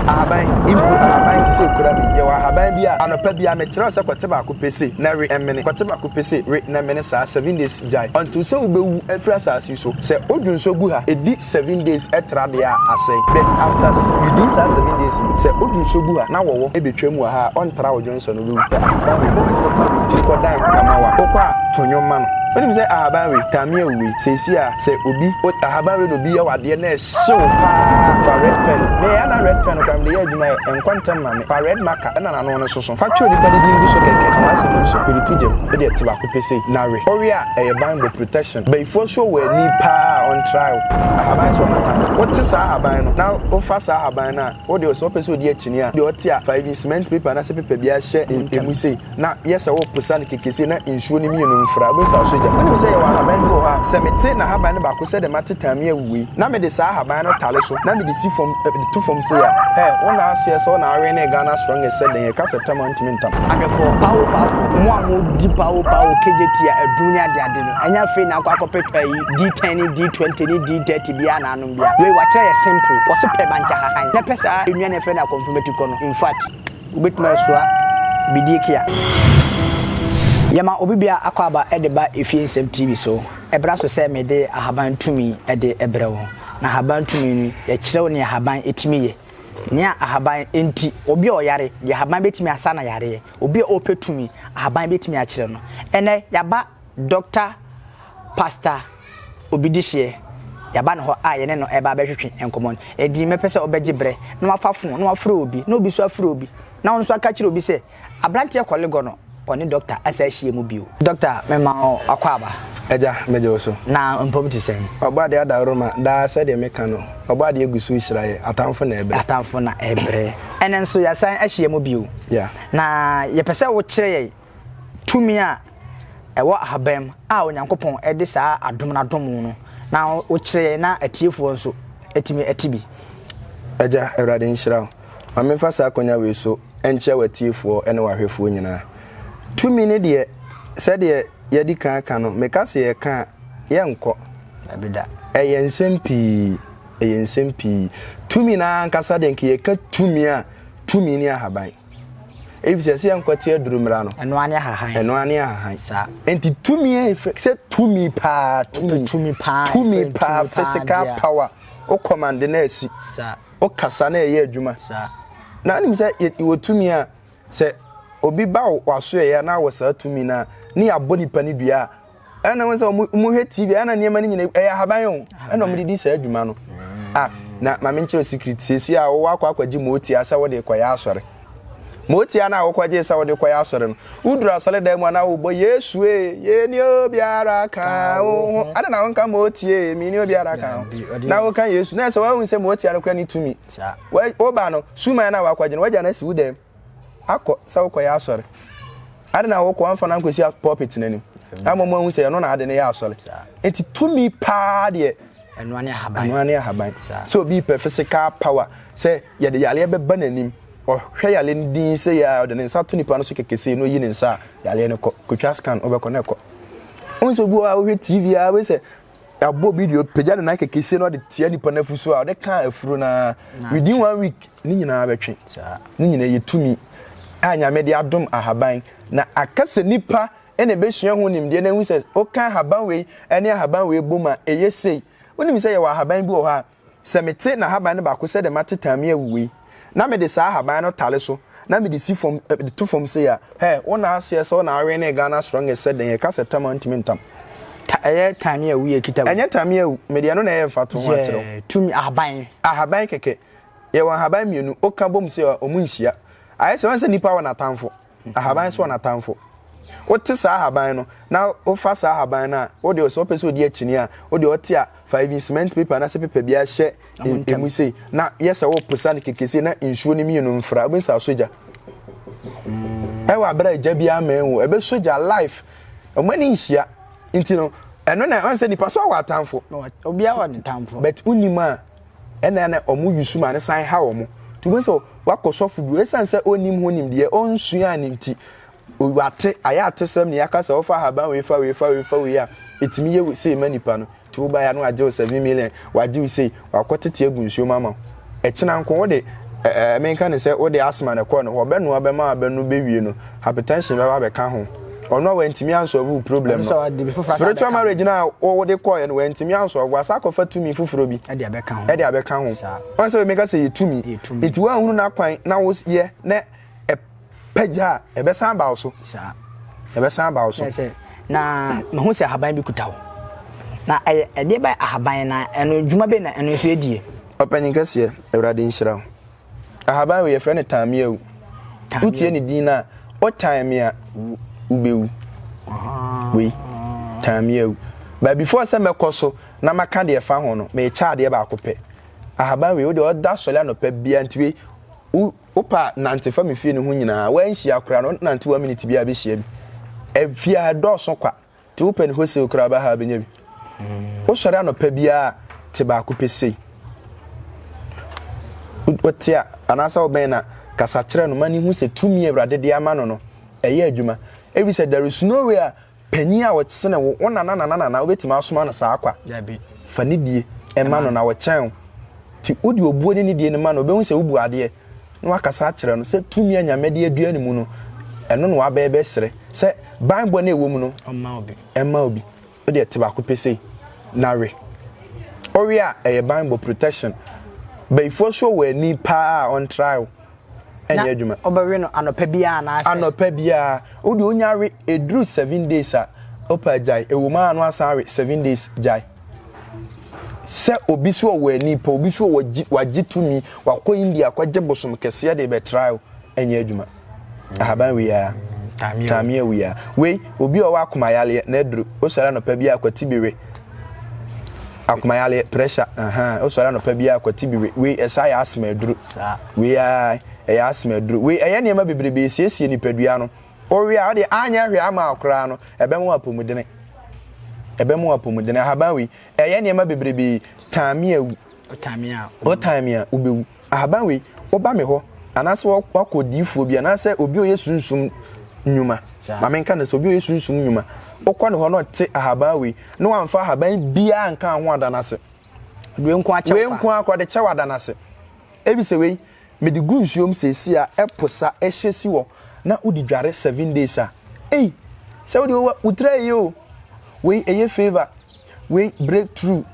Ahaban, mpo ahaban te sɛ kura me. Yɛwɔ ahaban bi a, anɔpa biara mekyerɛw sɛ kɔte baako pɛ sei, na we, ɛmene, kɔte baako pɛ sei, we, na ɛmene saa, seven days, gyae. Ɔntew sɛ wubewu afiri asase yi so. Sɛ odwo nso gu ha, edi seven days tra deɛ a, asɛe. But after s widi saa seven days no, sɛ odwo nso gu ha, na wɔwɔ betwam wɔ ha a, ɔntra odwo nso no, wubewu. Hwɛ ahaban wei, wopɛ sɛ kɔ aburokyiri kɔdan ho kama wo a, wokɔ a, to nnwom ma no. Wunim sɛ ahaban wei, tamia wei, seesei a, sɛ obi, o, ahaban wei na obi yɛ wo adeɛ na, Sew paa Fa red pen Me a na red pen no koraa mede yɛ adwuma ɛ Ɛnkɔ ntɛm ma me Fa red marker na n'ano no soso Fa twerɛ nipa no din gu so kɛkɛ Ka w'asɛm gu so Mede to gyam Ɛdeɛ te baako pɛ sei Na we Owe a ɛyɛ banbɔ Protection Bayifoɔ so wɔ ani paa a ɔntra wo Ahaban so ɔnata no Wote saa ahaban no na wofa saa ahaban no a Wo deɛ sɛ wopɛ sɛ ɔdi akyinnye a Deɛ ɔte a fa even cement paper anaasɛ paper biara hyɛ emu sei na yɛ sɛ worepesa no kɛkɛ sei na nsuo no mmienu mfra, wobɛhu sɛ asɔ gya. Wonim sɛ yɛwɔ ahaban bi wɔ hɔ a, sɛ mete n'ahaban no baako sɛdeɛ mate Tamia awu wei, na mede saa ahaban no tare so na mede si fam, de to fam sei a, hɛ, wo nna aseɛ sɛ wo na awenee Ghana strongest sɛ dɛn, ɛka sɛ tam a wontumi ntam. Adwefoɔ, pawo pafo, mo a modi pawo pawo, kegyetie a adum ne adeade no, ɛnyɛ afei na akɔ akɔpɛ ayi, D10 ne D20 ne D30 biara na anom biara. Wei, wɔakyerɛ yɛ simple, wɔse pɛ mankyɛ hahan, na pɛ saa nnuane a yɛfrɛ no akɔmframa ti kɔ no, infact, Wobɛtumi asoa Bidikia. Yɛma obi biara akwaaba de ba Efie Nsɛm TV so. Ɛbra so sɛ mede Ahaban Tumi de brɛ wo. Na Ahaban Tumi no, yɛkyerɛ wo nea ahaban tumi yɛ. Nea ahaban nti, obi a ɔyare, deɛ ahaban bɛtumi asa no yareɛ. Obi a ɔpɛ tumi, ahaban bɛtumi akyerɛ no. Ɛnnɛ, yɛaba. Dɔkta Pastor Obidihyeɛ, yɛaba ne hɔ a yɛne no ɛreba abɛtwetwe nkɔmmɔ no. Ɛdin mɛpɛ sɛ wobɛgye berɛ na wafa fon na wafrɛ obi na obi nso afrɛ obi na wo nso aka kyerɛ obi sɛ aberanteɛ kɔlegɔ no ɔne Dɔkta asa ahyia mu bio. Dɔkta mema wo akwaaba. Agya, megye wo so. Na mpom te sɛn? Ɔbɔadeɛ adaworoma, daa sɛdeɛ meka no, Ɔbɔadeɛ gu so rehyira yɛ, atamfo na ɛrebrɛ. Atamfo na ɛrebrɛ. Ɛnnɛ nso yɛasan ahyia mu bio. Yeah. Na yɛpɛ sɛ wokyerɛ yɛn tumi a ɛwɔ ahaban mu a Onyankopɔn de saa adom no adom wo no, na wokyerɛ yɛn na atiefoɔ nso atumi ate bi. Agya, Awurade nhyira wo. Ma memfa saa akonya wei so nkyia w'atiefoɔ ne w'ahwɛfoɔ nyinaa. Tumi no deɛ, sɛdeɛ yɛadi kan aka no, meka sɛ yɛka a, yɛrenkɔ. Dabi da. Ɛyɛ nsɛm pii. Ɛyɛ nsɛm pii. Tumi no ara ankasa deɛ, nka yɛka tumi a, tumi ne ahaban. Efisɛ sɛ yɛnkwati aduru mmara no. Ɛno ara ne ahahan. Ɛno ara ne ahahan. Saa. Enti tumi a efiri sɛ tumi paa tumi. Tumi paa. Tumi paa physical power. O kɔmande na esi. Saa. O kasa na ɛyɛ adwuma. Saa. Na anim sɛ wɔ tumi a sɛ obi ba w'asoɛyɛ na wɔ saa tumi na ne yɛabɔ nipa ne dua a ɛna wɔn sɛ wɔn wɔn hwɛ tv ɛna nneɛma no nyinaa ɛyɛ ahaban o ɛna wɔn de di saa adwuma no a na maame nkyerɛ secret sisi a wɔwɔ akɔ akɔgye mootia sɛ wɔde kɔ yɛ asɔre mootia na wɔkɔ gye sɛ wɔde kɔ yɛ asɔre no woduru asɔre dan mu a na wɔbɔ yesu ee yɛ ni obiara ka wɔn ho ɛna na wɔn ka mootia ee mi ni obiara ka ho na wɔka yesu na ɛsɛ wɔn ahun sɛ mootia no kura ne tumi wɔba no suman na wɔakɔgye no wɔgya no asi wo dan mu. akɔ sɛ wokɔyɛ asɔre. Ade na wokɔ amfa no ankɔsi pulpit no anim. Na mmom ahu sɛ ɛno na ade no yɛ asɔre. Enti tumi paa deɛ ɛnoa ne ahaban. Ɛnoa ne ahaban. Sɛ obi pɛ physical power sɛ yɛde yareɛ bɛba n'anim, ɔhwɛ yareɛ no din sɛ yɛ a ɔde ne nsa to nipa no so kɛkɛ sei na oyi ne nsa a, yareɛ no kɔ. Kɔtwa scan, wobɛkɔ na ɛkɔ. Wohu sɛ obi wɔ hɔ a wohwɛ TV a wobɛhu sɛ ɛbɔ bi deɛ ɔpagya ne nan kɛkɛsie na ɔde tia nipa no afu so a ɔde kaa afuro no ara within one week ne nyinaa bɛtwe ne nyinaa yɛ tumi a nyame de adom ahaban na aka sɛ nipa ɛna ɛbɛsua ho nimdeɛ na ɛhu sɛ woka ahaban wei ɛne ahaban wei bom a ɛyɛ sei wonim sɛ yɛwɔ ahaban bi wɔ hɔ a Sɛ mete n'ahaban no baako sɛdeɛ mate taami awuo yi, na mede saa ahaban no tare so na mede si fam de to fam sei a, hɛ, wo na aseɛ sɛ wo na awenee Ghana strongest sɛ dɛn, yɛka sɛ tam a ntumi ntam. Ta, ɛyɛ taami awu yɛ kita wo. Ɛnyɛ taami awu, mede ɛno na ɛyɛ mfatoho akyerɛ wo. Yɛ, tumi, ahaban. Ahaban kɛkɛ. Yɛwɔ ahaban mmienu, woka bom sei a, wɔn nhyia. Ayɛ sɛ, woahu sɛ nipa wɔ n'atamfo. Ahaban sɔ n'atamfo. Wote saa ahaban no, na wofa saa ahaban no a, wo deɛ sɛ wopɛ sɛ ɔdi akyinnye a, wo deɛ ɔte a, fa even cement paper anaasɛ paper bi ara hyɛ ɛmu sei, na yɛ sɛ woreposa no kɛkɛ sei, na nsuo no mmienu mfra. Wobɛhu sɛ asɔ gya. Ɛwɔ abere a gya biara mmɛn wo, ɛbɛsɔ gya life. Wɔn ani nhyia. Nti no, ɛno na ɔn sɛ nipa so awɔ atamfo. Obiara wɔ ne tamfo. But wonim a, ɛna na wɔn yusu ma no san ha wɔn. Nti wobɛhu sɛ wakɔ sɔfo bi, ɛsiane sɛ ɔnnim ho nimdeɛ, ɔnsuaa no nti, wate, ayɛ atesɛm ne yɛaka sɛ wofa ahaban wei fa wei fa wei fa wei a, ɛtumi yɛ sei ma nipa no. Nti wobaeɛ a na wagye wo seven million, wagye wo sei, wakɔtete agu nsuo mu ama wo. Ɛkyena nko wode, ɛɛ, menka no sɛ wode asthma na ɛkɔɔ ne hɔ, ɔbɛnoa bɛma abɛnom bɛwie no, hypertension bɛba abɛka ho ɔno a wantumi ansɔlve wo problem no spiritual marriage no a wode kɔɛ no wantumi ansɔlve wasa akɔfa tumi foforɔ bi ɛde abɛka ho ɔn sɛ meka sɛ yɛ tumi nti woanhunu no akwan na woyɛ na ɛpagya a ɛbɛsan baw so ɛbɛsan baw so na mehu sɛ ahaban bi kuta wo na ɛdeɛ bɛ ahaban na ɛno dwuma bɛ na ɛno nso ɛdie ɔpanyin kɛseɛ awurade nhyira wo Ahaban wei yɛfrɛ no tameawu. Wotie ne din no a, wotan me a wobɛwu. Wei, tameawu. But before sɛ mɛkɔ so na maka deɛ ɛfa ho no, mekyɛ adeɛ baako pɛ. Ahaban wei, wodeɛ ɔda sɔre anɔpa biara nti wei, wopɛ a nante fa me fie no ho nyinaa. Woanhyia koraa no, wonante one minute biara bɛhyia bi. Efie ha, ɛdɔɔso kwa. te wo pɛ ne wholesale koraa ba ha abɛnya bi wosɔre anɔpa biara te baako pɛ sei wote a anaasɛ wobɛn na kasa kyerɛ no ma ne hu sɛ tumi awurade de ama no no ɛyɛ adwuma ɛfiri sɛ there is no way a panyin a wɔsene wo wo nana nana nana wobɛtumi asoma no saa kwa fa ne die ɛma no na wɔkyɛn wo nti wode obuo ne ne die no ma no wobɛhu sɛ wobu adeɛ na wakasa akyerɛ no sɛ tumi a Nyame de adua ne mu no, ɛno na waba ɛbɛsrɛ, sɛ banbɔ no a ɛwɔ mu no, ɛmma obi. Wode ɛte baako pɛ sei, na we. Owe a, ɛyɛ banbɔ, protection. Bayifoɔ so wɔ ani paa a ɔntrae wo, ɛnyɛ adwuma. Na ɔbɛwe no anɔpa biara anaasɛ? Anɔpa biara. Wode onya we, ɛduru seven days a, ɔpa agyae. Ɛwɔ mu a na wasan awe seven days gyae. sɛ obi so ɔwɔ ani pa obi so wagye tumi wakɔ india akɔgye bosom kɛseɛ de bɛtra o ɛnyɛ adwuma ahaban wia tameɛ wia wei obi ɔwɔ akomayareɛ na aduru wosɔre anɔpa bi akwati bi we akomayareɛ pressure ahan wosɔre anɔpa bi akwati bi we wei ɛsa yɛ asma aduru wei a ɛyɛ asma aduru wei ɛyɛ nneɛma bebrebe esiesie nipadua no Owie a, ɔde anyɛ hwee ama wo koraa no, ɛbɛma wo apɔmudene. Ɛbɛma wo apɔmudene. Ahaban wei, ɛyɛ nneɛma bebrebe. Tan me a, wu. Wotan me a, wu. Wotan me a, wobɛwu. Ahaban wei, woba me hɔ, anaasɛ woakɔ odiyifoɔ bi, anaasɛ obi a ɔyɛ sunsum nnwuma. Ma menka no sɛ, obi a ɔyɛ sunsum nnwuma. Wokɔ ne hɔ na ɔte ahaban wei, na wamfa ahaban biara nka ho ada no ase. Wei nko akɔ de kyɛ wo ada no ase. Ɛfiri sɛ wei, mede gu nsuo mu seesei a ɛpo sa ɛhyɛ si hɔ na wode dware seven days a ei sɛ wode wo wo tiri ayɛ o wei ɛyɛ favour wei break through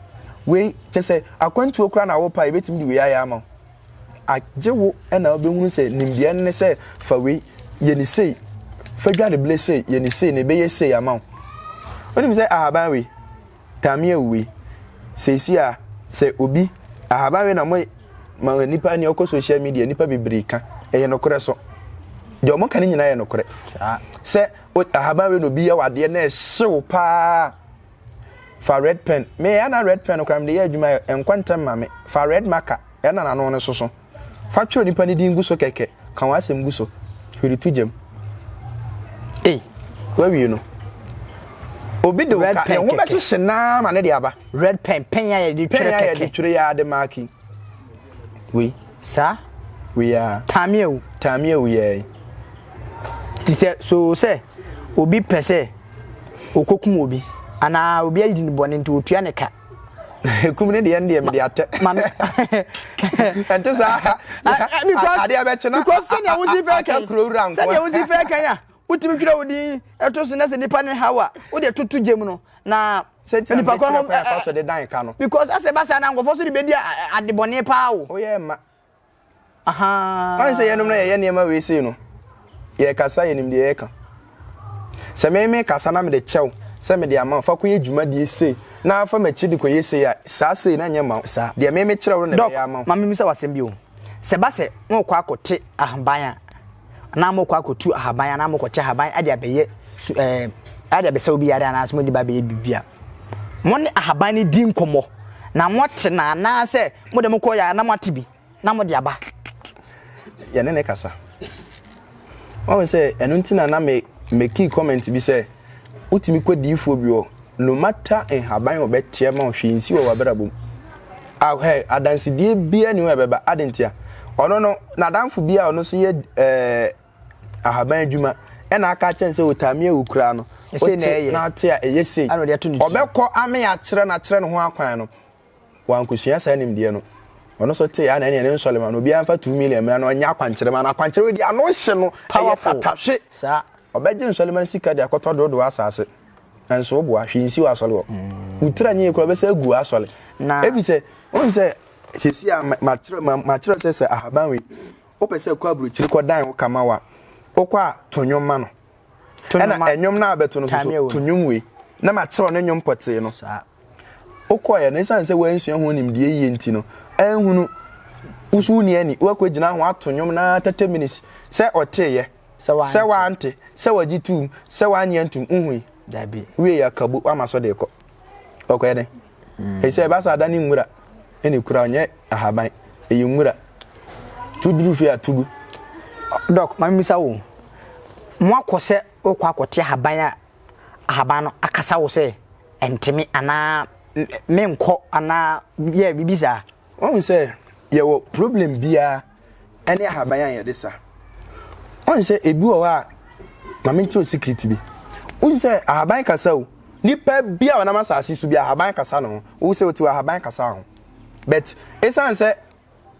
wei kyɛ sɛ akwantuo koraa na wopa yɛbɛtumi de wei ayɛ ama wo agye wo ɛna wobɛhunu sɛ nimdeɛ no ne sɛ fa wei yɛ ne sei fa dwa ne bile sei yɛ ne sei na ɛbɛyɛ sei ama wo wonim sɛ ahaban wei Tammy awui. Seesei a sɛ obi, ahaban we na mo ma nipa ni ɔkɔ social media nipa bebree ka. Ɛyɛ nokorɛ so. Deɛ ɔmo ka ne nyinaa yɛ nokorɛ. Sɛ ahaban we na obi yɛ wadeɛ na ɛhyew paa fa red pen. Me ɛna red pen no koraa mede yɛ adwuma ɛnkɔ ntɛm ma me. Fa red marker ɛna n'ano no soso. Fa twerɛ nipa no din gu so kɛkɛ, ka wɔn asɛm gu so, hwiri to gya mu. Ei, woawie no. Obi de wo ka, ne ho bɛhyehye naa ma ne de aba. Red pen, pɛn a yɛde twerɛ kɛkɛ. Pɛn a yɛde twerɛ yɛ ade maaki. Wei. Saa. Wei a. Taamia wu. Taamia wu yɛɛ. Ti sɛ so sɛ obi pɛ sɛ okokum obi anaa obi ayi ne bɔne nti otua ne ka. kum ne deɛ deɛ mede atɛ ɛnte saa adeɛ bɛkye na aka kuro wura nkoa sɛdeɛ wosi fɛ kan a wotumi twerɛ wo din ɛto so na sɛ nipa ne haw a wode toto gye mu no na nipa kɔ ho because asɛ basa na nkɔfoɔ so de bɛdi adebɔne paa o oh, Woahu sɛ yɛnom na yɛyɛ nneɛma wei sei no, yɛrekasa yɛnim deɛ yɛreka. Sɛ me mekasa na mede kyɛ wo sɛ mede ama wo, fa kɔyɛ dwumadie sei na fa m'akyi de kɔyɛ sei a, saa sei no nyɛ mma wo. Deɛ me mekyerɛ wo no na ɛbɛyɛ ama wo. Doc, ma memmisa wo asɛm bi o. Sɛ ɛba sɛ morekɔ akɔte ahaban a, anaa morekɔ akɔtu ahaban anaa morekɔte ahaban de abɛyɛ su ɛɛm de abɛsa obi yadeɛ anaa sɛ mode ba abɛyɛ biribi a, Mo ne ahaban no di nkɔmmɔ na mote no anaasɛ mode mo kɔeɛ a na moate bi na mode aba? Yɛne no kasa. Wahu sɛ ɛno nti na na me mekii comment bi sɛ wotumi kɔ diifoɔ bi hɔ no matter nhaban a ɔbɛteɛ ma wo hwee nsi wɔ w'abrabɔ mu a hɛ adansedie biara ni hɔ ɛbɛba adentia ɔno no n'adanfo bi a ɔno nso yɛ ɛɛ ahaban adwuma ɛna aka akyɛn sɛ otame awu koraa no wote na ate a ɛyɛ sei ɔbɛkɔ ame akyerɛ no akyerɛ ne ho akwan no wankosua saa nimdeɛ no ɔno so te ana ɛne ne nsɔle ma no obiara mfa 2 million mmra na ɔnyɛ akwankyerɛ ma no akwankyerɛ di ano hye no ɛyɛ tatahwe saa ɔbɛgye nsɔle ma no sika de akɔtɔ dodoɔ asase nso wo boa hwee nsi wɔ asɔle hɔ mm. wotira nyɛ kura bɛsɛ agu asɔle na ebi sɛ wɔn sɛ sɛsi a makyerɛ makyerɛ sɛ sɛ ahaban wei Wopɛ sɛ kɔ aburokyiri kɔ dan wo kama wa, wokɔ a to nwom ma no. Ɛna ɛnwom no a bɛto no soso to nwom wei na ma kyerɛw ne nwom pɔtee no. Wokɔɛ no esiane sɛ woansua ho nimdeɛ yie nti no anhunu woso wonni ani woakɔ gyina ho ato nwom no ara 30 minutes sɛ ɔteeɛ sɛ wante sɛ wagye tuum sɛ wanyɛ ntom wohui wieɛ akabo wama so de kɔ ɔkɔɛ dɛn. ɛsɛ ɛba sɛ ada ne nwura ɛna ekura ɔnyɛ ahaban ɛyɛ nwura tu duru fie a tugu. dɔk maame misa wo mo akɔ sɛ wokɔ akɔte ahaban a ahaban no akasa wo sɛ ɛnteme anaa menkɔ anaa yɛ biribi saa. wɔn sɛ yɛwɔ problem biara. ɛne ahaban a yɛde sa. Wɔn sɛ ebi wɔ hɔ a maame nti o sikiriti bi. Wɔn sɛ ahaban kasa o. Nipa bi a ɔnam asase so bi ahaban kasa no ho. Wɔn sɛ otiw ahaban kasa ho. But esan sɛ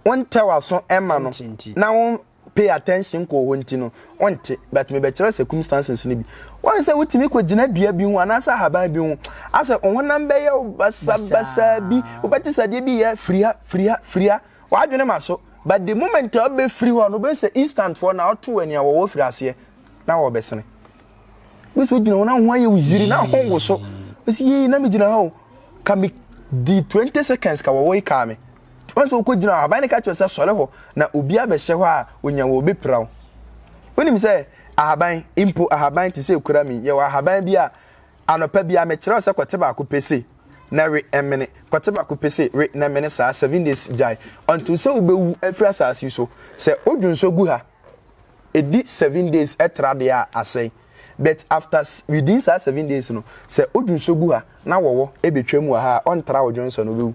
wɔn tɛ w'aso ɛma no na wɔn pay attention kɔ hɔ nti no wɔn te. But me bɛkyerɛ circumstances no bi. Wɔn sɛ wotumi kɔ gyina dua bi ho anaasɛ ahaban bi ho. Asɛ ɔhonam bɛyɛ basabasa bi. Wobɛte sɛ adeɛ bi yɛ firi ha firi ha firi ha. W'adwene ma so, but the moment a wobɛfiri hɔ no, wobɛhu sɛ instant foɔ na woto wɔ nea wɔwɔ firi aseɛ na wɔbɛsene. Wobɛhu sɛ wogyina hɔ na ho ayɛ wo yiri na ho wo so. Wosi yei na megyina ha o, ka me di 20 seconds ka wɔwɔ yi kaa me. Wɔn sɛ wokɔ gyina hɔ, aban ne ka kyerɛ sɛ sɔre hɔ na obi abɛhyɛ hɔ a onya wɔ obi pira wo. Wonim sɛ ahaban, mpo ahaban te sɛ ekura mi, yɛwɔ ahaban bi a Anɔpa biara mekyerɛw sɛ kɔte baako pɛ sei na we ɛmene, kɔte baako pɛ sei we na mene saa seven days gyae until sɛ wobɛwu afiri asase yi so. Sɛ wodwo nso gu ha, ɛdi seven days ɛtra deɛ a asɛe but after within saa seven days no sɛ wodwo nso gu ha na wɔwɔ ɛbɛtwa mu wɔ ha a ɔntra wodwo nso no wobɛwu.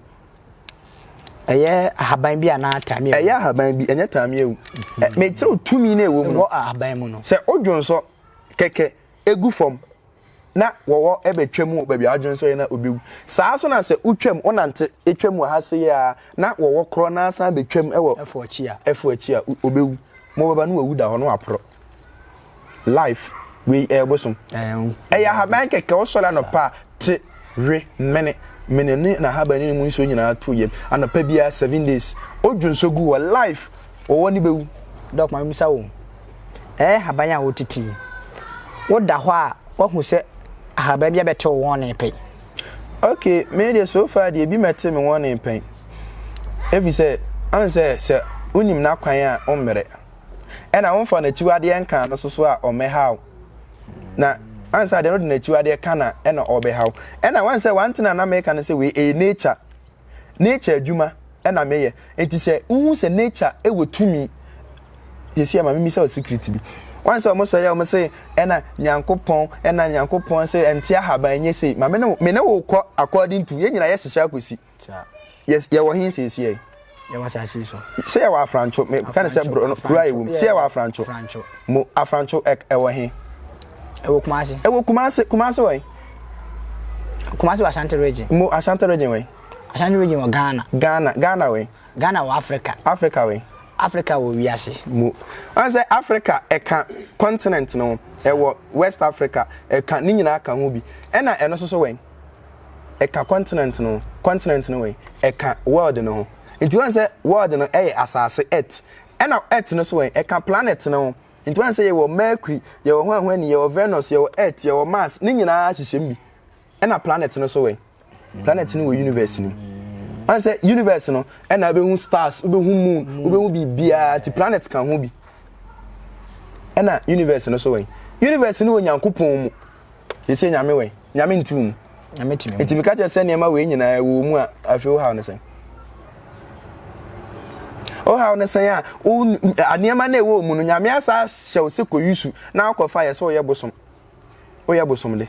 Ɛyɛ ahaban bi anaa taamia? Ɛyɛ ahaban bi, ɛnyɛ taamia wu. Mekyerɛw tumi na ɛwɔ mu no. Ɛwɔ ahaban mu no. Sɛ wodwo nso kɛkɛ ɛgu fam na wɔwɔ bɛtwa mu wɔ baabi a adwene sɛ na obewu saa nso na sɛ wotwam wonante atwam wɔ ha se a na wɔwɔ korɔ na asan bɛtwam wɔ ɛfo akyi a ɛfo akyi a obewu mobɛba no wawu da hɔ no waporɔ life wei ɛyɛ bosom ɛyɛ ahaban kɛkɛ wosɔre anɔpa te we mene mene ne na ahaban ne mu nsuo nyinaa to yam anɔpa biara seven days odwo nso gu wɔ life wɔwɔ ne bɛwu dɔkoma bisa wo Ɛyɛ nhaban a wotiti. Woda hɔ a woahu sɛ ahaban bi abɛte wo wɔne pɛn. Ok, me deɛ so far deɛ ebi mmɛte me wɔne pɛn. Efisɛ, woahu sɛ, sɛ wunim n'akwan a wommrɛ. Ɛna womfa n'akyiwadeɛ nka no so so a ɔmmɛha wo. Na ansa deɛ no de n'akyiwadeɛ ka na ɛna ɔbɛha wo. Ɛna woahu sɛ one thing a na meka ne sɛ wei ɛyɛ nature. Nature adwuma na meyɛ. Nti sɛ wohu sɛ nature wɔ tumi seesei a ma memmisa wo secret bi. Woahu sɛ wɔsɔre a wɔse ɛna Nyankopɔn, ɛna Nyankopɔn se ɛnte ahaban ɛnyɛ sei. Ma me ne wo, me ne wo kɔ according to, yɛn nyinaa yɛhyehyɛ akɔsi. Yes, yɛwɔ he seesei a? Yɛwɔ asase so. Sɛ yɛwɔ Afrancho, me ka ne sɛ bro no, kuro a yɛwɔ mu. Sɛ yɛwɔ Afrancho. Afrancho. Mo Afrancho ɛwɔ he? Ɛwɔ Kumasi. Ɛwɔ Kumasi, Kumasi wɔ he? Kumasi wɔ Ashanti region. Mo Ashanti region wɛn? Ashanti region wɔ Ghana. Ghana Ghana wɛn? Ghana wɔ Africa. Africa wɛn? Africa wɔ wiase. Mo wɔn sɛ Africa ɛka continent no ho ɛwɔ West Africa ɛka ne nyinaa ka ho bi ɛna ɛno soso wɛn? Ɛka continent no ho continent no wɛn? Ɛka world no ho nti wɔn sɛ world no ɛyɛ asaase earth ɛna earth no so wɛn? Ɛka planet no ho. Nti woahu sɛ yɛwɔ Mercury, yɛwɔ hwan hwan ni, yɛwɔ Venus, yɛwɔ Earth, yɛwɔ Mars, ne nyinaa hyehyɛm bi. Ɛna planet no so wɛ. Planet no wɔ universe no mu. Woahu sɛ universe no, ɛna wobɛhu stars, wobɛhu moon, wobɛhu biribiara, nti planet ka ho bi. Ɛna universe no so wɛ. Universe no wɔ Nyankopɔn mu. Yɛsɛ Nyame wɛ, Nyame nti wo mu. Nti meka kyerɛ sɛ nneɛma wei nyinaa ɛwɔ mu a afei wohaw ne sɛn. Wohaw ne sɛn a nneɛma no ɛwɔ mu no Nyame asa hyɛ wo sɛ kɔyi su na akɔfa yɛ sɛ woyɛ bosom. Woyɛ bosom de.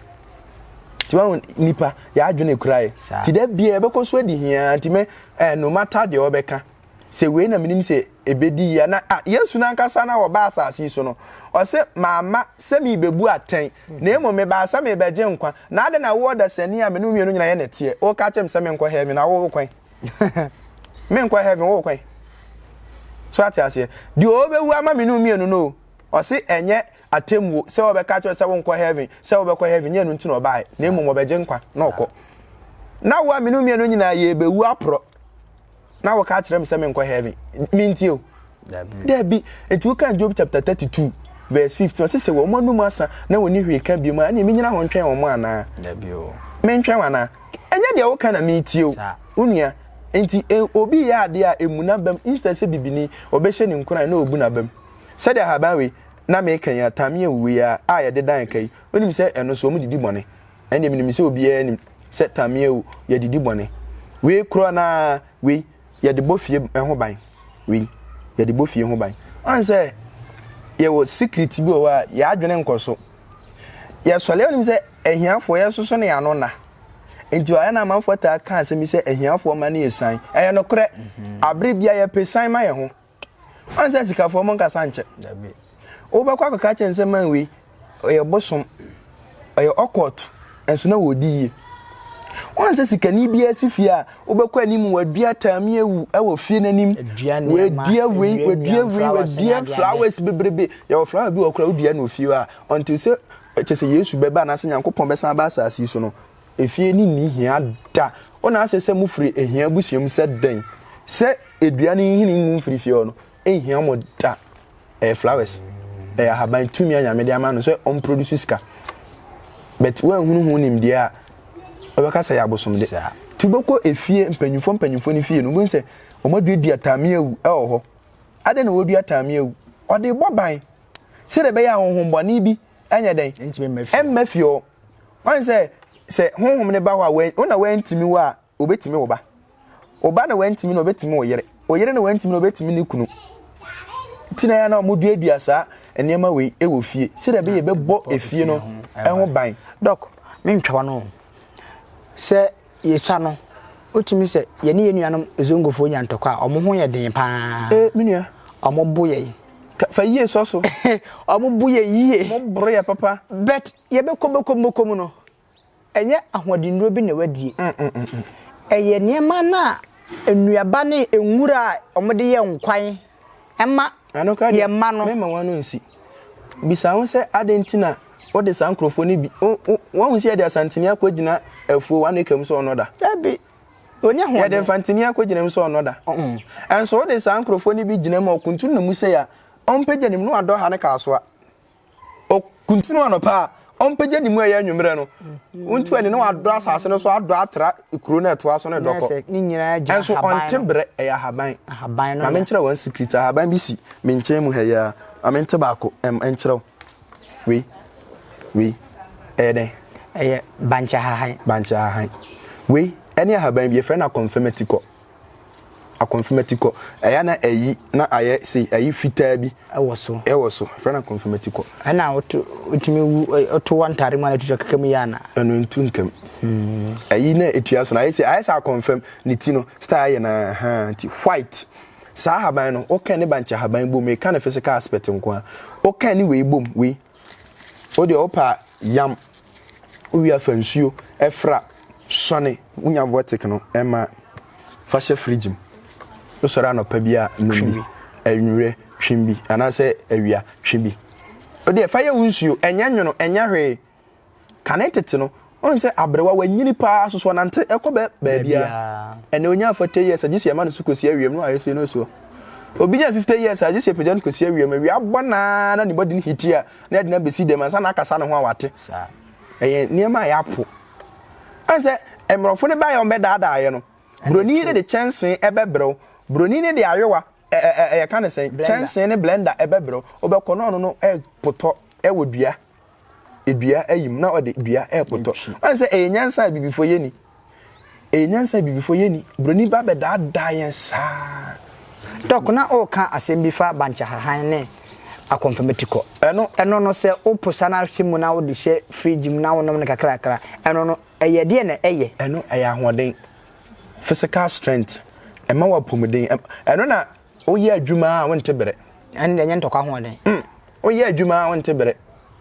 Nti wahu nipa yɛ adwene kura yɛ. Nti da biara ɛbɛkɔ so adi hiaa nti me eh, no matter deɛ wɔbɛka Sɛ wei na menim sɛ ɛbɛdi yie a, na ah, Yesu no ankasa na wɔba asase yi so no, ɔse, mamma sɛ merebɛbu atɛn, na mmom mebaa sɛ merebɛgye nkwa. Na adɛn na wo ɔdasani a me ne wo mmienu nyina yɛ nɛteɛ, woka kyerɛ me sɛ menkɔ heaven, na wo wo kwan? menkɔ heaven, wo wo kwan? So ate aseɛ? Deɛ ɔbɛwu ama me ne wo mmienu no o, ɔse ɛnyɛ atemmuo sɛ wɔbɛka kyerɛ sɛ wonkɔ heaven, sɛ wobɛkɔ heaven, nyɛ ɛno nti na ɔbaeɛ, na mmom ɔbɛgye nkwa na ɔkɔ. Na wo a me ne wo mmienu nyinaa yɛrebɛwu aporɔ. na wɔka akyerɛ me sɛ menkɔ heaven mentie o daabi nti woka job chapter 32 verse 15 ɔse sɛ wɔn anum asa na wɔni hwee ka biom a ɛneɛ menyina ho ntwɛn wɔn anaa mentwɛn wɔn anaa ɛnyɛ deɛ woka na metie o wo nua nti e, obi yɛ adeɛ a ɛmu n'abam instead sɛ bibini ɔbɛhyɛ ne nkuran na ɔbu n'abam sɛdeɛ ahaban wei na meka yi a tamea wuwei a a yɛde dan ka yi wonim sɛ ɛno nso wɔn didi bɔne ɛnde menim sɛ obiara nim sɛ tamia o yɛde di bɔne wei korɔ na wei yɛde bɔ fie ho ban wei yɛde bɔ fie ho ban ɔn sɛ yɛwɔ secret bi wɔ hɔ a yɛadwene nkɔ so yɛsɔre anim sɛ ahiafoɔ yɛsoso ne ano na nti ɔyɛ na amanfoɔ taa ka asɛm bi sɛ ahiafoɔ ma no yɛ san ɛyɛ nokorɛ mhm. abere bia yɛpɛ san ma yɛn ho Ɔnsɛ asikafoɔ mo nkasa nkyɛ. Wobɛkɔ akɔka akyerɛ no sɛ man wei ɔyɛ bosom, ɔyɛ ɔkɔɔto, nso na wɔdi yie. Ɔnsɛ sikani biara si fie a wobɛkɔ anim wadua taami awu wɔ fie n'anim. Wadua wei, wadua wei, wadua flowers bebrebe. Yɛwɔ flower bi wɔ koraa wodua no ofie hɔ a, until sɛ kyɛ sɛ Yesu bɛba anaasɛ Nyankopɔn bɛsan aba asase so no, Efie no nni hia da. O na asɛ sɛ mofiri ahia abusua mu sɛ dɛn? Sɛ dua no nhini ngu mfiri fie hɔ no, ɛnhia mo da. Ɛyɛ flowers. Ɛyɛ ahaban, tumi a Nyame de ama no sɛ ɔmproduce sika. But woanhunu ho nimdeɛ a, wobɛka sɛ ɛyɛ abosomde. Nti wobɛkɔ efie, mpanyimfoɔ mpanyimfoɔ no fie no, wobɛhu sɛ wɔaduadua tameawu wɔ hɔ. Adɛn na wɔdua tameawu? Wɔde bɔ ban. Sɛdeɛ ɛbɛyɛ a honhommɔne bi nyɛ dɛn? Ɛmma fie hɔ. Wahu sɛ, sɛ Honhom no ba hɔ a, wo na woantumi wo a, Ɔbɛtumi wo ba. Wo ba na woantumi no, Ɔbɛtumi wo yere. Wo yere na woantumi no, Ɔbɛtumi ne kunu. Nti na ɛyɛ na wɔduadua saa nneɛma wei wɔ fie, sɛdeɛ ɛbɛyɛ ɛbɛbɔ efie no ho ban. Dɔk, mentwa w'ano o. Sɛ yesua no, wotumi sɛ yɛne yɛn nuanom Zongofoɔ nya ntɔkwa a, wɔn ho yɛ den paa. Ee, me nua. Wɔn bo yɛ. Ka, fa yie sɔ so. wɔn bo yɛ yie. Wɔn boro yɛ papa. But yɛbɛkɔ bɛkɔ mu bɛkɔ mu no, ɛnyɛ ahoɔdennuro bi na wadie. Mm, mm, mm, mm. Ɛyɛ nneɛma no a nnuaba ne nwura a wɔde yɛ nkwan. mma yɛn mma no. Mɛma wɔn ano nsi. Bisa ho sɛ, Adɛn nti na wode saa nkurɔfoɔ no bi. Woahu sɛ yɛde asantini akɔgyina afuo one acre mu sɛ ɔnnɔ da? Dabi. Ɔnni ahoɔden. Yɛde mfantini akɔgyina mu sɛ ɔnnɔ da. Nso wode saa nkurɔfoɔ no bi gyina mu a ɔkuntunu ne mu sei a, ɔmpagya ne mu na wadɔ ha ne Kasoa. ɔkuntunu anɔpa a, ɔmpagya ne mu ɛyɛ anwummerɛ no. Wontu ani na wadɔ asase no so adɔ atra kuro no a ɛtoa so no dɔ kɔ. Nso ɔnte berɛ, ɛyɛ ahaban. Ma menkyerɛ one secret, ahaban bi si me nkyɛn mu ha yi ara. Ma mente baako nkyerɛ wo. Wei, wei, ɛyɛ dɛn? Ɛyɛ bankye ahahan. Bankye ahahan. Wei ɛne ahaban bi, yɛfrɛ no akɔmfɛm atikɔ. Akonfirmatikɔ, ɛyɛ a na ayi na ayɛ sei, ayi fitaa bi wɔ so, ɛwɔ so, ɛfrɛ no akonfirmatikɔ. Ɛna wotumi wu, woto wɔ ntade mu a na ɛtu so keka mu yɛ ana? Ɛno ntu ntam. Hmm. Ayi na ɛtua so no, ayɛ sɛ ayɛ sɛ akɔnfam, ne ti no, star ayɛ na ha, nti white. Saa haban no, woka ne bankyɛ haban bom, meka ne physical aspect nko a, woka ne wei bom, wei, Wo deɛ wopɛ a yam, wowie a fa nsuo fra sɔne. Wonya vortic no ma fa hyɛ fridge mu, wosɔre anɔpa bi a nom bi, anwumerɛ twe bi anaasɛ awia twe bi. Wo deɛ fa yɛ wo nsuo, ɛnyɛ nwono, ɛnyɛ hwee. Kane tete no, ɔn sɛ aberewa wanyini paa soso ɔnante kɔ baabiara. Ɛnɛ onya forty years a gye sɛ yɛma no so kosi awiam na wayɛ sei na ɔsi hɔ. Obi nya fifty years a gye sɛ yɛpagya no kosi awiam. Awia abɔ no ara na ne body no heat a na yɛde no abesi dɛm ansa na akasa ne ho a wate. Ɛyɛ nneɛma a yɛapo. Ɔn sɛ mmorɔfo no baeɛ a wɔbɛdaadaa yɛ no, buroni no de kyɛnsee ɛbɛbrɛ wo. Buroni no de ayowa, yɛka no sɛn, kyɛnsee ne blender ɛbɛbrɛ wo. Wobɛkɔ na ɔno no potɔ wɔ dua. dua ayim na ɔde dua repotɔ ɔn sɛ ɛyɛ nyansa a bibifo yɛ ni ɛyɛ nyansa a bibifo yɛ ni broni ba bɛdaadaa yɛn saa. dɔk na ɔreka asɛm bi fa bankyahahan ne akɔnfamati kɔ ɛno ɛno no sɛ wopo sa no ahwe mu na wode hyɛ fridge mu na wonom no kakrakra ɛno no ɛyɛ deɛ na ɛyɛ ɛno ɛyɛ ahoɔden physical strength ɛma wapɔmuden ɛno na Woyɛ adwuma a wonte bere. Ɛnde nyɛ ntɔkwa hoɔden. Mm, woyɛ adwuma a wonte bere.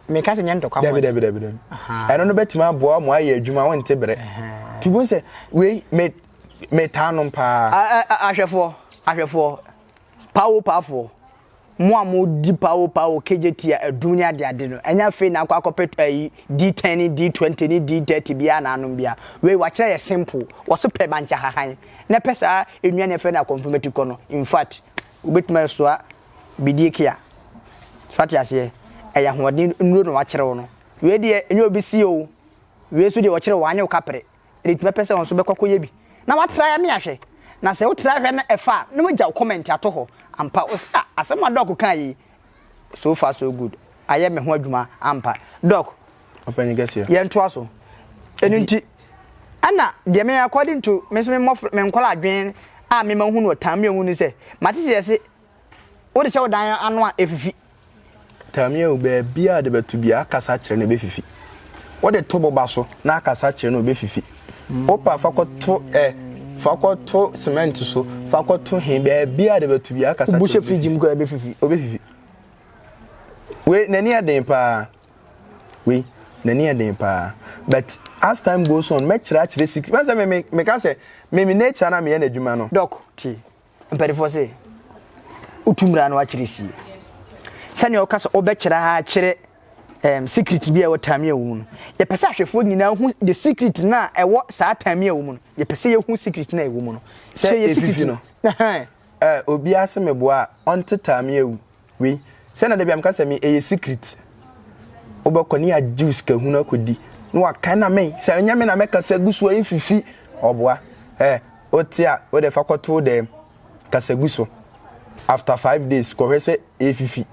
Meka sɛ nyɛ ntɔkwa hoɔden. Dabi, dabi, dabi. Ɛno no bɛtumi aboa mo ayɛ adwuma a wonte bere. Ti bu sɛ, wei, me, metaa nom paa. Ahwɛfoɔ, ahwɛfoɔ, pawo paafoɔ, mo a modi pawo pawo KJT a adum ne adeade no, ɛnyɛ afei na akɔ akɔpɛ ayi D10 ne D20 ne D30 biara na anom biara. Wei, wɔakyerɛ yɛ simple. Wɔso pɛ bankye hahan. na pɛ saa nnuane a yɛfrɛ no akɔmfamati kɔ no infact wobɛtumi asoa bidie kea so ate aseɛ ɛyɛ ahoɔden nnuro na wakyerɛ wo no wei deɛ ɛnyɛ obi si o wei nso deɛ wɔkyerɛ wɔanyɛ wo kapere ɛde tumi pɛ sɛ wɔn nso bɛkɔ akɔyɛ bi na watra ya me ahwɛ na sɛ wotra hwɛ na ɛfa a na wagya wo comment ato hɔ ampa wo sɛ ah, asɛm a dɔɔko kaa yi so far so good ayɛ me ho adwuma ampa doc ɔpanyin kɛseɛ yɛn toa so ɛnu nti ɛna deɛ me according to me nso me mmɔfra me nkɔla adwene a me ma hu no ɔtan mi ɔmu ni sɛ mate sɛ yɛse wo de hyɛ wo dan ano a efifi tami o baabi a de bɛto bi akasa kyerɛ na ebefifi wɔde to boba so na akasa kyerɛ na obefifi Wopa fa kɔto ɛ fa kɔto cement so fa kɔto he baabi a de bɛto bi akasa kyerɛ wobuhyɛ fridge mu kɔ ɛbɛfifi ɔbɛfifi wei n'ani ɛden paa wei n'ani ɛden paa but as time goes on mɛkyerɛ akyerɛ secret wɛn sɛ me me meka sɛ me me nature na meyɛ n'adwuma no. Doc, tie. mpanimfoɔ se wotu mmara no akyerɛ sie sɛnea ɔka sɛ ɔbɛkyerɛ ha akyerɛ um, secret bi a ɛwɔ tamia wɔ mu no yɛpɛ sɛ ahwɛfoɔ nyinaa hu the secret no a ɛwɔ saa tamia wɔ mu no yɛpɛ sɛ yɛhu secret no a ɛwɔ mu no sɛ yɛ secret no obiara sɛ meboa a ɔnte tamia wu Wei sɛ na dabi a meka sɛ me ɛyɛ secret wobɛkɔ ne yɛagyew sika hunu akɔdi na waka na me sɛ ɛnyɛ me na mɛka sɛ gu so a ɛmfifi ɔboa ɛ wote a wode fa kɔto dɛ kasa gu so after five days kɔhwɛ sɛ ɛfifi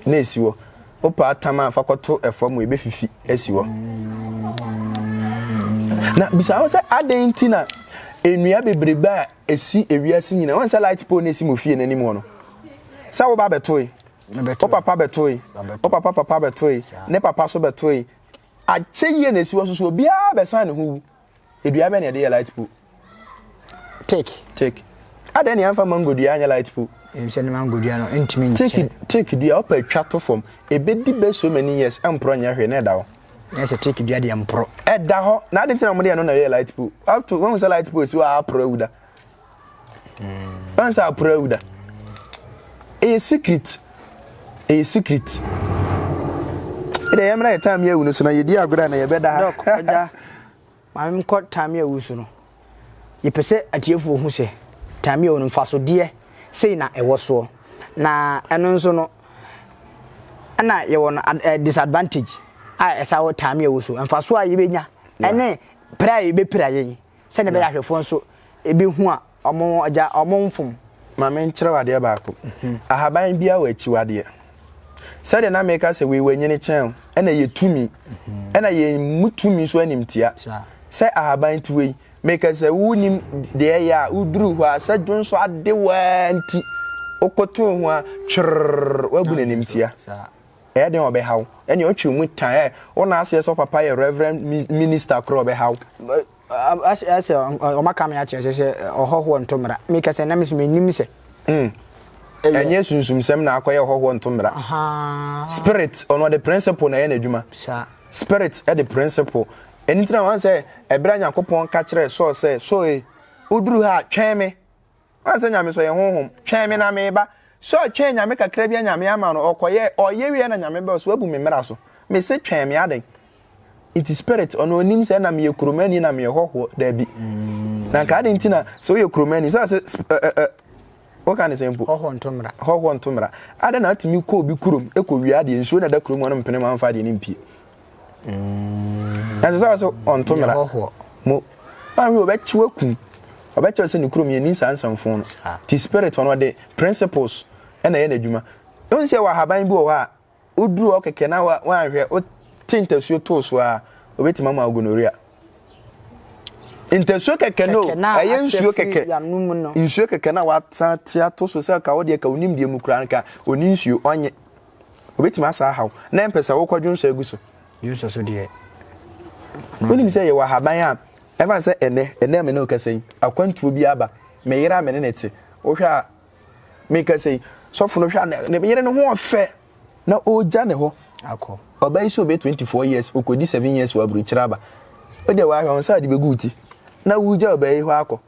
na ɛsi hɔ wopɛ atam a fa kɔto ɛfam wɔ ɛbɛfifi asi hɔ na bisa ho sɛ adɛn nti na nnua bebrebe a ɛsi ewiase nyina wɔn sɛ light pole na ɛsi mo fie n'anim hɔ no sɛ wo ba bɛtoe wo papa bɛtoe wo papa papa bɛtoe ne papa so bɛtoe akyɛ yie na ɛsi wɔ so so obiara bɛsan ne ho wu edua bɛ na ɛde yɛ light pole take take adɛn ne yɛmfa mango dua anyɛ light pole sɛ ne mango dua no ntumi nkyɛ take dua ɔpa atwa to fam ɛbɛdi bɛ so many years ɛmporɔ nyɛ hwee na ɛda hɔ Ɛyɛ sɛ teak dua deɛ mporo. Ɛda hɔ na adi nti na wɔde ɛno na ɛyɛ light pole up to wɔn sɛ light pole si hɔ a aporo awu da hmm. wɔn sɛ aporo awu da ɛyɛ secret ɛyɛ secret ɛdɛ yɛn mmerɛ yɛ time yɛ awu no so na yɛ di agorɔ na yɛ bɛ da ha. Maame me kɔ Tamia wu so no, yɛpɛ sɛ atiefoɔ hu sɛ Tamia wu no mfasodeɛ sei na ɛwɔ soɔ. Na ɛno nso no ɛna yɛwɔ no eh, disadvantage a ɛsa wɔ Tamia wu so. Mfasoɔ a yɛbɛnya ɛne pere a yɛbɛpira yɛn sɛdeɛ ɛbɛyɛ ahwɛfoɔ nso ɛbɛhu a Ɔmo agya ɔmo mfom. Ma menkyerɛ wo adeɛ baako. Ahaban biara wɔ akyiwadeɛ. Sɛdeɛ na meka sɛ wei wanyini kyɛn wo, ɛna yɛ tumi, ɛna yɛmmu tumi so animtia. Sɛ ahaban ti wei, meka sɛ wonim deɛ ɛyɛ a woduru hɔ a sɛ dwonsɔ ade wo ara nti wokotoo ho a twerrrr woabu no animtia. Ɛyɛ dɛn a ɔbɛha wo? Ɛnneɛ ɔtwe wo mu tan. Wo nan ase sɛ wo papa yɛ Reverend Minister koraa ɔbɛha wo. Ahyɛ ayɛ sɛ wɔaka me akyerɛ sɛ sɛ ɔhɔhoɔ nto mmara. Meka sɛ na me nso mennim sɛ. Ɛnyɛ sunsumsɛm na akɔyɛ ɔhɔhoɔ nto mmara. Spirit ɔno ɔde principle na ɛyɛ n'adwuma. Spirit de principle. Ɛno nti na wɔn sɛ ɛberɛ a Nyankopɔn ka kyerɛɛ Saul sɛ Saul e woduru ha a twɛn me Ɔn sɛ Nyame sɔ yɛ honhom, twɛn me na me ba. Sɛ ɔtwɛn Nyame kakra bia Nyame ama no, ɔkɔyɛ, ɔyɛ wie na Nyame bɛɔ sɛ wabu me mmra so. Me se twɛn me aden. Nti spirit, ɔno onim sɛ na meyɛ kuromani na meyɛ hɔhoɔ, dabi. Na nka aden nti na sɛ woyɛ kuromani, sɛ ɔse sp ɛ ɛ ɛ woka ne sɛ mpo? Hɔhoɔ nto mmra. Hɔhoɔ nto mmra. Aden na atumi kɔ obi kurom kɔ wia adeɛ, nsuo na ɛda kurom hɔ no mpene mu amfa adeɛ no mpie. Mm. ɛsɛ sɛ ɔsɛ ɔnto mmara mo ahwɛ ɔbɛkye wakum ɔbɛkyɛ sɛ ne kurom yɛni saa nsɛmfo no ti spirit ɔno ɔde principles ɛna ɛyɛ n'adwuma ɛhu sɛ wɔ ahaban bi wɔ hɔ a woduru hɔ kɛkɛ na woanhwɛ wote ntasuo too so a obɛtumi ama gonorrhea ntasuo kɛkɛ no ɛyɛ nsuo kɛkɛ nsuo kɛkɛ na wasa te ato so sɛ ka wodeɛ ka wonim deɛ mu koraa nka ɔni nsuo ɔnye Obetumi asan ahaw na ɛmpɛ sɛ wokɔ dwonsɔ agu so. Dwonsɔ so deɛ. Wonim sɛ yɛwɔ ahaban a ɛfa sɛ ɛnɛ, ɛnɛ a me ne wokasa yi, akwantuo bi aba. Me yere a me ne no te, wohwɛ a mekasa yi, sɔfo no hwɛ a ne yere no ho ɔfɛ na ɔregya ne hɔ. Akɔ. Ɔbaa yi sɛ ɔbɛ 24 years, ɔkɔdi 7 years wɔ aburukyerɛ aba. Wode wahwɛ wɔn sɛ ade bɛgu ti na wogya ɔbaa yi hɔ akɔ.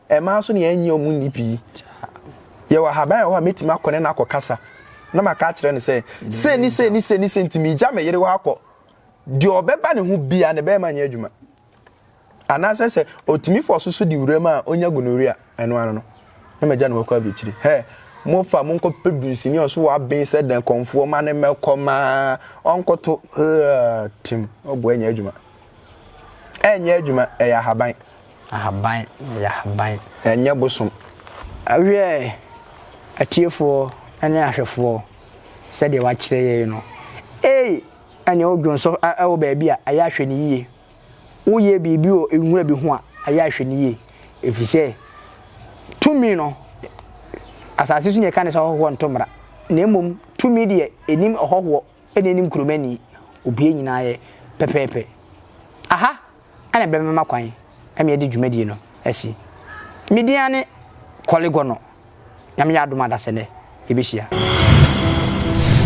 Mmaa nso deɛ ɛnyɛ wɔn nni pii. Yɛwɔ ahaban a ɛwɔ hɔ a mɛtumi akɔ ne no akɔkasa na maka akyerɛ no sɛ sei ne sei ne sei ne sei nti megya me yere hɔ akɔ. Deɛ ɔbɛba ne ho biara no bɛrima nyɛ adwuma. Anaasɛ sɛ ɔtumi fa ɔsoso de wuram a ɔnya gonorrhea ɛno ano no na magya ne hɔ kɔ abirikyiri. Hɛ! Mofa monkɔpɛ dunsini a ɔso wɔ aben sɛ dɛn kɔmfoɔ ma ne mɛkɔ maa ɔnkɔto haa tim ɔboa nyɛ adwuma. Ɛnyɛ adwuma ɛyɛ ahaban. Ahaban na ɛyɛ ahaban. Ɛnyɛ bosom. Wiɛ, atiefoɔ ne ahwɛfoɔ, sɛdeɛ wɔakyerɛ yɛn no. Ei, ɛnneɛ wo dwonsɔ wɔ baabi a, ɛyɛ a hwɛ no yie. Woyɛ biribi wɔ nwura bi ho a, ɛyɛ a hwɛ no yie. Ɛfiri sɛ, tumi no, asase so na yɛka no sɛ ɔhɔhoɔ nto mmara, na mmom tumi deɛ, ɛnnim ɔhɔhoɔ. ɛna anim kurom ani obue nyinaa ayɛ pɛpɛɛpɛ. Aha na ɛbɛma kwan ma yɛde dwumadie no asi. Me din ara ne Kɔle Gɔnɔ. Nyame yɛ adom a dasɛ nnɛ yɛbɛhyia.